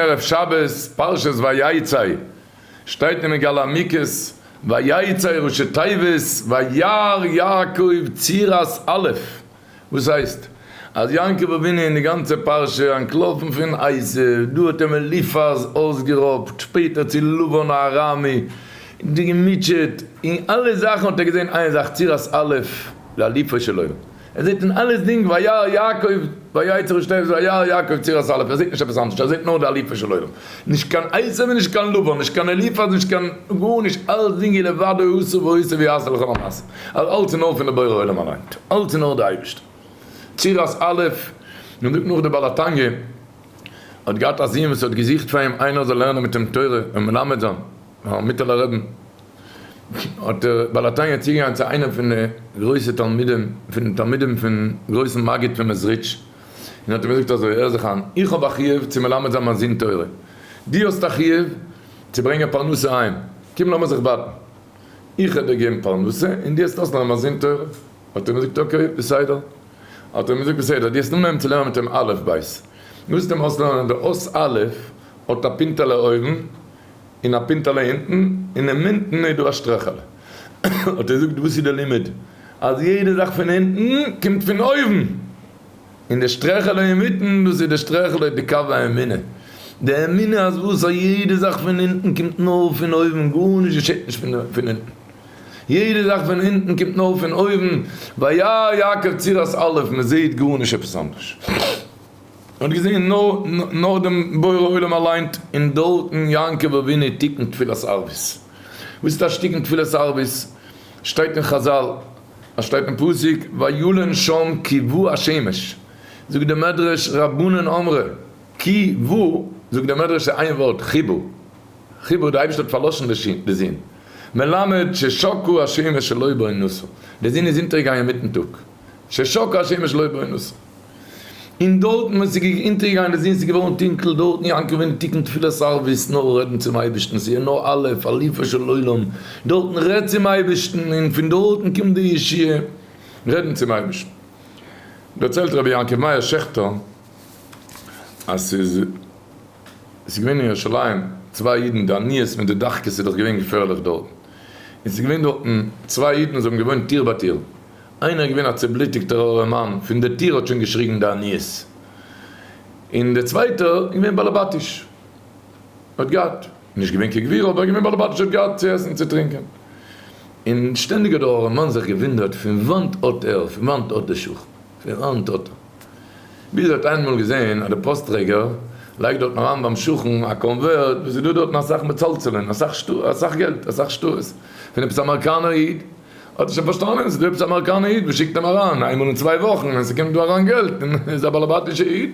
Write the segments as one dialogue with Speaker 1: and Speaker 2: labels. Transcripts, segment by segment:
Speaker 1: ערב שבת פרשת ויצא שטייט אין מגלה עמיקות, ויצא ראשי תיבות וירא יעקב צירת א', וואס הייסט אז יעקב אבינו אין די גאנצע פרשה אנטלאפן פון עשיו, דא האט אים אליפז אויסגערויבט, שפעטער צו לבן הארמי, געמוטשעט, אין אלע זאכן האט ער געזען איין זאך צירת א' לאליפז שלום, ער זעט אין אלעסדינג וירא יעקב ויצר את עשו וירא יעקב ציר עשה אליפז ער זעט נישט עפעס אנדערש ער זעט נאר די אליפז של עולם נישט קיין עשו און נישט קיין לבן נישט קיין אליפז נישט קיין גארנישט אלעסדינג איז לבדו עשו ועשו ויעשה לכל המעשים אז אלס איז נאר פון די בורא עולם אליין אלס איז נאר די אייבישטער ציר עשה אליפז מען זאגט נאך די בעל התניא האט געהאט א זוהן וואס ער האט געזוכט פאר אים איינער זאל לערנען מיט אים תורה און מלמד זיין. מיטעלע רבי האט דער בעל התניא צוגעגאנגען צו איינער פון די גרויסע תלמידים פון די תלמידים פון גרויסן מגיד פון מעזריטש און האט אים געזאגט אזוי, הער זיך איין, איך האב א חיוב צו מלמד זיין מיין זון תורה, דו האסט א חיוב צו ברענגען פרנסה אהיים, קום לאמיר זיך בייטן, איך וועל דיר געבן פרנסה און דו האסט אויסלערנען מיין זון תורה, האט ער אים געזאגט אקעי בסדר, האט ער אים געזאגט בסדר, דו האסט אנגעהויבן צו לערנען מיט אים אלף בית, מוזט אים אויסלערנען די אות אלף האט א פינטעלע אויבן, און א פינטעלע אונטן, און אינמיטן איז דא א שטרעכעלע. האט ער געזאגט, וואס איז דער לימוד? אז יעדע זאך פון אונטן קומט פון אויבן, און די שטרעכעלע אינמיטן, דאס איז די שטרעכעלע איז די קו האמונה. די אמונה אז וואס א יעדע זאך פון אונטן קומט נאר פון אויבן, גארנישט געשעט נישט פון אונטן. יעדע זאך פון אונטן קומט נאר פון אויבן, וירא יעקב צירת אלף, מען זעט גארנישט עפעס אנדערש. האט געזעהן נאר דעם בורא עולם אליין און דארטן יעקב אבינו תיקון תפילת ערבית. וואס איז טאש תיקון תפילת ערבית? שטייט אין חזל, עס שטייט אין פסוק וילן שם כי ו השמש, זאגט דער מדרש רבנן אמרה כי ו, זאגט דער מדרש איז איין ווארט חיבור, חיבור דער אייבערשטער האט פארלאשן די זון, מלמד ששקעה השמש שלא בעונותו, די זון איז אונטערגעגאנגען מיטן טאג, ששקעה השמש שלא בעונותו. און דארטן ווען ס'איז געגאנגען אונטערגייען די זון ס'איז געווארן טונקל דארטן יעקב אין תיקון תפילת ערבית נאר רעדן צום אייבערשטן ס'איז נאר א' אליפו של עולם דארטן רעד צום אייבערשטן און פון דארטן קומט די ישועה רעדן צום אייבערשטן דערציילט רבי יעקב מאיר שעכטער אז ס'איז ס'איז געווען אין ירושלים צוויי אידן די עניות מיט די דחקות איז דאך געווען געפערליך דארטן און ס'איז געווען דארטן צוויי אידן זיי האבן געוואוינט טיר ביי טיר. איינער איז געווען א צובלוטיגטער ארעמאן, פון די טיר האט שוין געשריגן די עניות, און דער צווייטער איז געווען באלעבאטיש, האט געהאט, נישט געווען כגבירו, אבער געווען באלעבאטיש, האט געהאט צו עסן, צו טרינקען, און שטענדיג האט דער ארעמאן זיך געוואונדערט פון וואנט האט ער, פון וואנט האט די שכן, פון וואנט האט ער, ביז ער האט איינמאל געזען אז דער פאסט-טרעגער לייגט דארטן אריין ביים שכן א קאנווערט וואס איז דא דארטן אסאך מצלצלין, אסאך געלט, אסאך שטרות, פון עפעס א אמעריקאנער איד, האט ער שוין פארשטאנען אז דו ביסט א אמעריקאנער איד מען שיקט אים אריין איין מאל אין צוויי וואכן ווען ס'קומט דא אריין געלט און איז א באלעבאטישע איד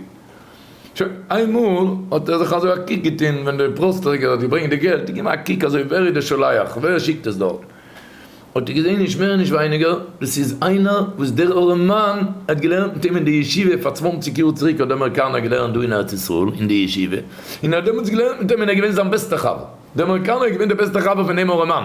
Speaker 1: שוין איין מאל האט ער זיך אזוי א קוק געטון ווען דער פראסטעריגער האט געברענגט די געלט און געבן א קוק אזוי ווער איז דער שולח ווער שיקט עס דארט האט ער געזען נישט מער און נישט ווייניגער דאס איז איינער וואס דער ארעמאן האט געלערנט מיט אים אין די ישיבה פאר צוואנציג יאר צוריק האט דער אמעריקאנער געלערנט דא אין ארץ ישראל אין די ישיבה און ער האט דעמאלטס געלערנט מיט אים און ער איז געווען זיין בעסטער חבר דער אמעריקאנער איז געווען דער בעסטער חבר פון דעם ארעמאן.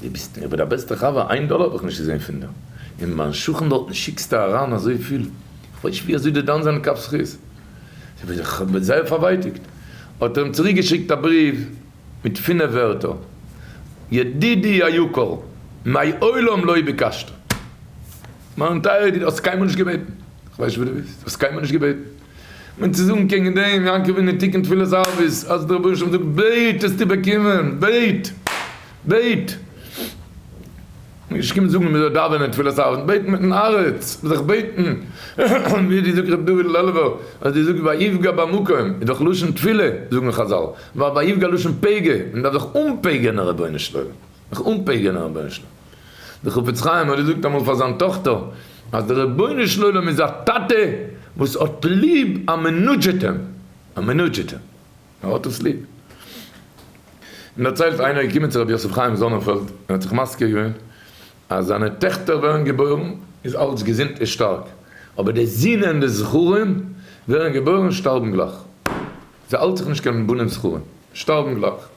Speaker 1: די ביסט מיר אבער די בעסטע חבר, איין דאלער האב איך נישט געזען פון דיר, אין מיין שכן דארטן שיקסטו אריין אזויפיל, איך ווייס נישט ווי אזוי די דן זיין אין קאפ זכות, איך בין זייער פארווייטיגט, האט ער אים צוריק געשיקט א בריוו מיט פינף ווערטער, ידידי היקר, מעולם לא ביקשת, מיין טייערער ידיד, האסט קיינמאל נישט געבעטן, איך ווייס נישט וואס די ווילסט, האסט קיינמאל נישט געבעטן. מיט צו זאגן קעגן דעם יעקב אין די תיקון תפילת ערבית אז דער רבונו של עולם זאגט בעט וועסטו באקומען, בעט, בעט, נישט קומען זאגן מען זאל דאווענען תפילת ערבית, בעט מיטן הארץ, זיך בעטן, ווי די זאגט ר' דוד לעלובער אז די זאגסט ויפגע במקום איז דאך לשון תפילה זאגן חזל, ווייל ויפגע לשון פגע, מען דארף זיך אנפגע'נען רבונו של עולם, זיך אנפגע'נען רבונו של עולם. דער חפץ חיים האט געזאגט אמאל פאר זיין טאכטער אז דער רבונו של עולם איז א טאטע וואס האט ליב א מנודזשעטער, א מנודזשעטער, ער האט עס ליב. מען דערציילט איינער איז געקומען צו רבי יוסף חיים זאנענפעלד און האט זיך מזכיר געווען אז זיינע טעכטער ווערן געבוירן איז אלץ געזונט און שטארק, אבער די זינען די זכרים ווערן געבוירן שטארבן גלייך, ס'האלט זיך נישט קיין בנים זכרים, שטארבן גלייך.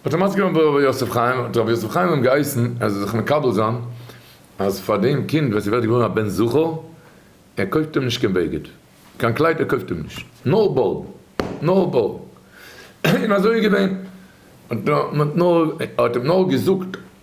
Speaker 1: האט ער מסכים געווען ביי ר' יוסף חיים, האט ר' יוסף חיים אים געהייסן ער זאל זיך מקבל זיין אז פאר דעם קינד ווען ס'ווערט געבוירן א בן זכר, ער קויפט אים נישט קיין בגד, קיין קלייד ער קויפט אים נישט, נאר בארד, נאר בארד, און אזוי איז געווען, מען האט נאר, ער האט אים נאר געזאגט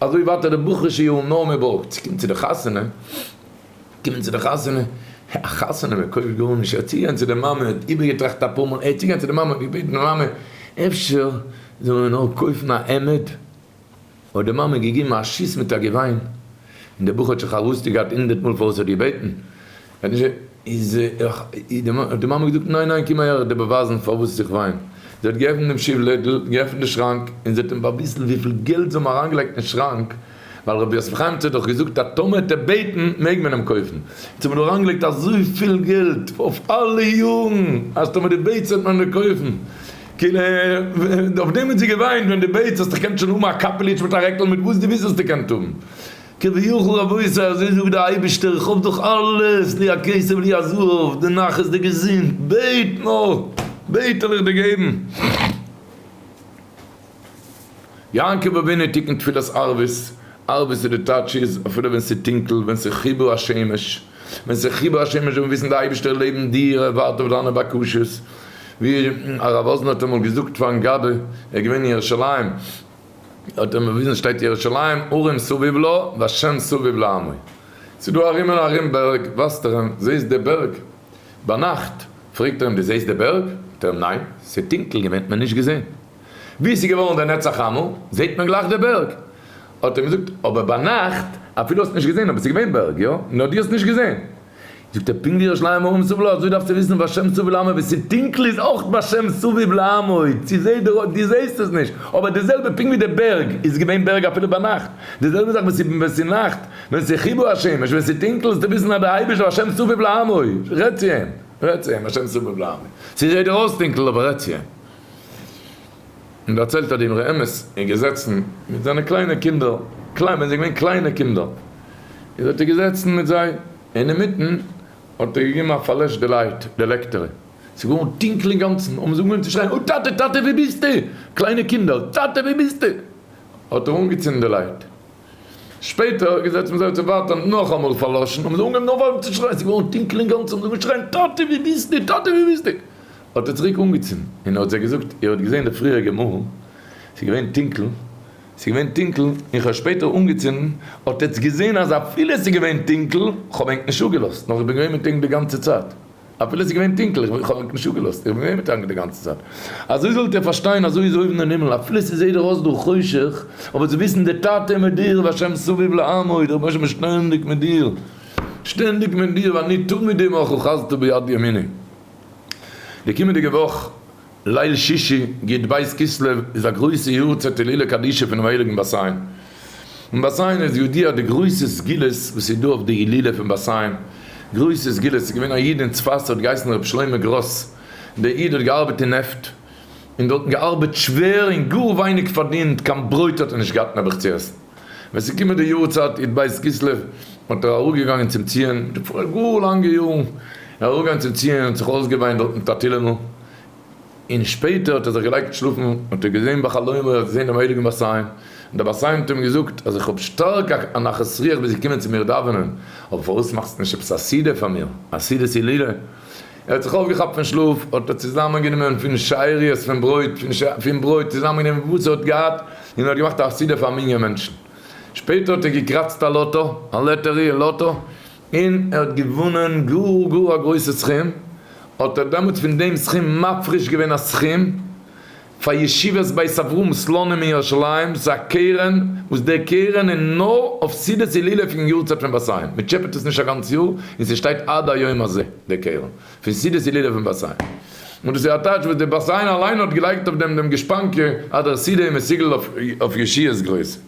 Speaker 1: אזוי ווייטער די בחור שיהא נאה מרבו צו קומען צו די חתונה, קומען צו די חתונה, א חתונה מען קויפט גארנישט, ער האט צוגעהערט צו די מאמע, ער האט איבערגעטראכט אפאר מאל, ער האט צוגעהערט צו די מאמע, געבעטן די מאמע אפשר זאל מען נאר קויפן א עמוד, האט די מאמע געגעבן א שיס מיט א געוויין, און די בחור האט שוין חרוסת געהאט הונדערט מאל פארוואס ער האט געבעטן. איז האט די מאמע געזאגט ניין ניין קום אהער די באווייזן פארוואס איך וויין, זי האט געעפנט דעם שיף לעדל, געעפנט די שראנק און זי האט אים באוויזן וויפיל געלט זיי האבן אריינגעלייגט אין שראנק, ווייל רבי יוסף חיים צ האט דאך געזאגט אז טאמער האט ער בעטן מעג מען אים קויפן, און זיי האבן אריינגעלייגט אזויפיל געלט אויף אלע יארן אז טאמער דו בעטסט וועט מען דיר קויפן, כאילו אויף דעם האט זי געוויינט ווען דו בעטסט האסט דאך קענסט שוין האבן א קאפעליטש מיט א רעקל מיט וואס דו ווילסט וועסטו קענט האבן. כביכול אבות ה אזוי זאגט דער אייבערשטער איך האב דאך אלעס לי הכסף לי הזהב די נחת די געזונט בעט נאר בעט וועל איך דיר געבן יעקב אבינו תיקון תפילת ערבית ערבית איז די טייטש איז אפילו ווען ס'איז טונקל ווען ס'איז חיבור השמש ווען ס'איז חיבור השמש זאל מען וויסן די אייבערשטער לעבן דיר ער ווארט אויף דיינע בקשות ווי הרב וואזנער האט אמאל געזאגט פארן גבאי ער איז געווען אין ירושלים. האט ער מ'וויזן שטעט ירושלים הרים סביב לו והשם סביב לעמו ס'איז דא הרים און הרים בערג ווייזט ער אים זעהסט די בערג ביינאכט פרעגט ער אים די זעהסט די בערג זאגט ער אים ניין ס'איז טונקל געווען האט מען נישט געזעהן ווי ס'איז געווארן די נצח עמו זעהט מען גלייך די בערג האט ער אים געזאגט אבער ביינאכט אפילו האסט נישט געזעהן אבער ס'איז געווען בערג יא נאר דו האסט נישט געזעהן. זאגט ער פונקט ווי ר' שלמה אהרן מסובל האט אזוי דארפסטו וויסן בשם סובל לעמוד ווי ס'טונקל איז אויך בשם סביב לעמוד צו זעהט דער אויג דו זעהסט עס נישט אבער די זעלבע פונקט ווי די בערג איז געווען בערג אפילו ביינאכט די זעלבע זאך ווען ס'נאכט ווען ס'חיבור השמש ווען ס'טונקל זאלסטו וויסן אז די אייבערשטער בשם סביב לעמוד רעדט צו אים רעדט צו אים בשם סביב לעמוד צו זעהט דער אויס טונקל אבער רעדט צו אים. און דערציילט אט דעם רעמעס איז געזעצן מיט זיינע קליינע קינדער, קליין ווען זיי זענען געווען קליינע קינדער, איז אט ער געזעצן מיט זיי, אינמיטן האט ער געגעבן א פארלעש די לייט, די לעקטערע, ס'איז געווארן טונקל אינגאנצן, האבן זיי אנגעהויבן צו שרייען, אה טאטע, טאטע ווי ביסטו? קליינע קינדער, טאטע ווי ביסטו? האט ער אנגעצינדן די לייט, שפעטער האט ער געזעצט מיט זיי צו ווארטען נאכאמאל פאר לאשען האבן זיי אנגעהויבן נאך ווייטער צו שרייען עס איז געווארן טונקל אינגאנצען האבן זיי אנגעהויבן שרייען טאטי ווי ביסט דו טאטי ווי ביסט דו האט ער צוריק אנגעצינדן און ער האט זיי געזאגט איר האט געזעהן די פריעריגע מאל עס איז געווען טונקל עס איז געווען טונקל און איך האב שפעטער אנגעצינדן האט עטס געזעהן אז אפילו עס איז געווען טונקל כ'האב ענק נישט אפגעלאזט נאר איך בין געווען מיט ענק די גאנצע צייט. אפילו עס איז געווען טונקל, איך האב ענק נישט אפגעלאזט, איך בין געווען מיט ענק די גאנצע צייט. אזוי זאלט איר פארשטיין, אזוי איז אויבן אין הימל, אפילו ס'זעט דיר אויס דא חושך, אבער זיי וויסן דער טאטע איז מיט דיר, והשם סביב לעמוד, דער רבונו של עולם איז שטענדיג מיט דיר, שטענדיג מיט דיר, ואני תמיד עמך אוחזתו ביד ימיני. די קומענדיגע וואך ליל שישי, י ד בית כסלו, איז א גרויסע יארצייט הילולא קדישא פונעם הייליגן באסיין. און באסיין איז יודיע די גרויסע סגולות וואס איז דא אויף די הילולא פון באסיין. גרויסע סגולות, ס'איז געווען א איד אין צפת האט געהייסן ר' שלמה גראס, דער איד האט געארבעט אין נעפט, און דארטן געארבעט שווער און גאר ווייניג פארדינט, קיין ברויט האט ער נישט געהאט נעבעך צו עסן. ווען ס'איז געקומען די יארצייט י ד בית כסלו האט ער אראפגעגאנגען צום ציון, געפארן גאר לאנגע יארן, ער איז אראפגעגאנגען צום ציון און האט זיך אויסגעוויינט דארט מיט א תהילה'נל, און שפעטער האט ער זיך געלייגט שלאפן און האט ער געזען ביי חלומו אז ער האט געזען דעם הייליגן בר סיין און דער בר סיין האט אים געזאגט אז איך האב שטארק א נחת רוח וועסט קומען צו מיר דאווענען אבער פארוואס מאכסטו נישט עפעס א סידור פאר מיר א סעודת הילולא ער האט זיך אויפגעכאפט פון שלאף האט ער צוזאמען גענומען פון שאריות פון ברויט פון ברויט צוזאמען גענומען וואס ער האט געהאט און ער האט געמאכט א סידור פאר א מנין מענטשן שפעטער האט ער געקראצט א לאטא א לאטערי און לאטא און ער האט געוואנען גאר גאר א גרויסע סכום, האט ער דעמאלטס פון דעם סכום מפריש געווען א סכום פאר ישיבת בית אברהם סלונים אין ירושלים, ס'איז א קרן וואס די קרן איז נאר אויף סעודת הילולא פון יארצייט פון באסיין, מען טשעפעט עס נישט א גאנץ יאר, און ס'שטייט עד היום הזה די קרן פון סעודת הילולא פון באסיין, און דאס איז א טאטש וואס די באסיין אליין האט געלייגט אויף דעם דעם גושפנקא אז דער סידי איז מסוגל אויף ישיעס גרויסע.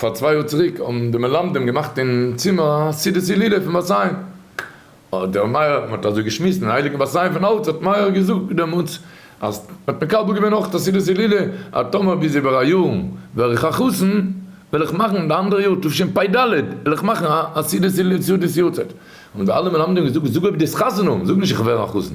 Speaker 1: פאר צוויי יאר צוריק האבן די מלמדים געמאכט אין צימער א סידור צו לולב פון באסיין, האט דער מהר א, מען האט אזוי געשמועסט אין הייליגן באסיין פון אלץ, האט מהר א געזאגט דעמאלטס אז מען האט מקבל געווען אויך א סידור צו לולב, אז טאמער ביז איבער א יאר ווער איך א חתן וועל איך מאכן די אנדערע יאר תשפ ד וועל איך מאכן א סידור צו לולב סעודת יארצייט, האבן די אלע מלמדים געזאגט זאג אויב דו האסט חתונה, זאג נישט איך ווער א חתן.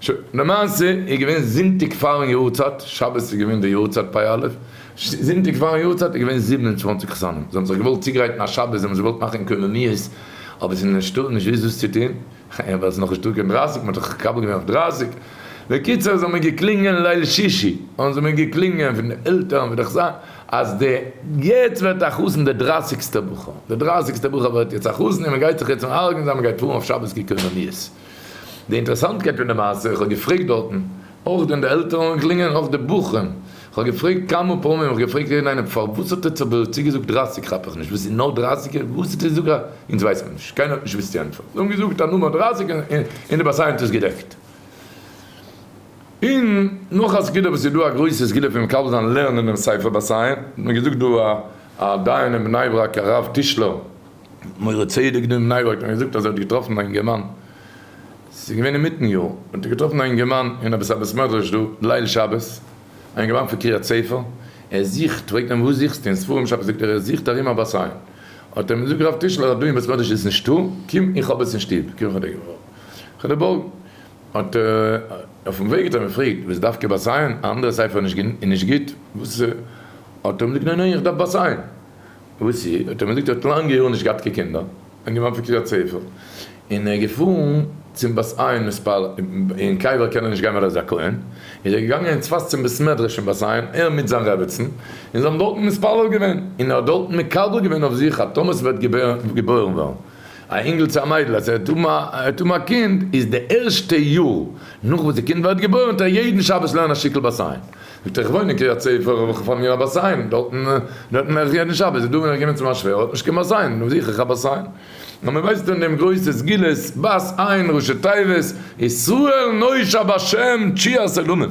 Speaker 1: שוין, למעשה איז געווען זונטאג פארן יארצייט, שבת איז געווען די יארצייט פ' אלול, זונטאג פארן יארצייט איז געווען זיבן און צוואַנציק חתנים, זיי האבן זיך געוואלט צוגרייטן א שבת, זיי האבן זיך געוואלט מאכן קוממיות, אבער עס איז נישטא, נישט וואו דאס צו טון, ווייל עס איז נאך נישטא קיין דרײַסיק, מען האט דאך מקבל געווען אויף דרײַסיק, בקיצור איז האבן מיר געקלינגען ליל שישי, האבן זיי מיר געקלינגען פון די עלטערן ווי דאך זיי, אז די יעצט ווערט א חתן די דרייסיגסטע בחור, די דרייסיגסטע בחור ווערט יעצט א חתן און מען גייט זיך יעצט אן ארגענזיין מען גייט פארן אויף שבת קוממיות. די אינטערעסאנטקייט פון די מעשה, איך האב געפרעגט דארטן, אויך דען די עלטערן און קלינגען און אויך די בחורים, איך האב געפרעגט כמה פעמים, איך האב געפרעגט יעדן איינעם פארוואס האט ער צו בערך צוגעזאגט דרײַסיק כאפ איך נישט וואס איז נאר דרײַסיק און וואס איז די זאגאר אונז ווייסט מען נישט קיינער האט נישט געוואוסט די ענטפער זיי האבן געזאגט א נומער דרײַסיק און די באסיי האט עס געדעקט. און נאך א סגולה וואס איז דא א גרויסע סגולה פון מקבל זיין לערנען דעם ספר באסיי, האט מיר געזאגט דא א דיין אין בני ברק הרב טישלער, מוהרא ש איז געווען אין ניו יארק און ער זאגט אז ער האט געטראפן א אינגערמאן, ס'איז געווען אינמיטן יאר, האט ער געטראפן א אינגערמאן אין עפעס א בית מדרש דא ליל שבת, א אינגערמאן פון קריית ספר, ער זוכט, פרעגט אים וואס זוכסטו אין ספרים שבת, זאגט ער ער זוכט ארום א באסיין, האט ער אים געזאגט רב טישלער אז דא אין בית מדרש איז עס נישטא, קום איך האב עס אין שטוב, קום איך וועל דיר בארגן, האט ער אויפן וועג האט ער אים געפרעגט וואס דווקא באסיין, א אנדערע ספר איז נישט גוט, וואס איז, האט ער אים געזאגט ניין ניין איך דארף באסיין, וואסי? האט ער מיר געזאגט, ער האט לאנגע יארן נישט געהאט קיין קינדער, און געווארט פון קריית ספר, און ער איז געפארן צום בת עין מספר, אין קיי וועלט קען ער נישט גיין ווייל ער איז א כהן, איז ער געגאנגען אין צפת צום בית מדרש אין בת עין, ער מיט זיין רעבעצן, און זיי האבן דארטן מתפלל געווען, און ער האט דארטן מקבל געווען אויף זיך אז טאמער ס'וועט געבוירן ווערן א אינגל צו א מיידל, אז ער וועט האבן א קינד, איז די ערשטע יאר נאך וואס די קינד ווערט געבוירן טאר ער יעדן שבת לערנען א שטיקל בת עין, זאגט ער איך וואוין אין קריית ספר האב איך פאר מיר א באסיין דארטן דארטן מעך איך יעדן שבת איז דא ווען איך גיי מיט צו מיין שווער האט נישט קיין באסיין נו זיך איך א באסיין נו מען ווייסט און דעם גרויסע סגולת באס איין ראשי תיבות ישראל נושא בשם תשיעא סעלומען.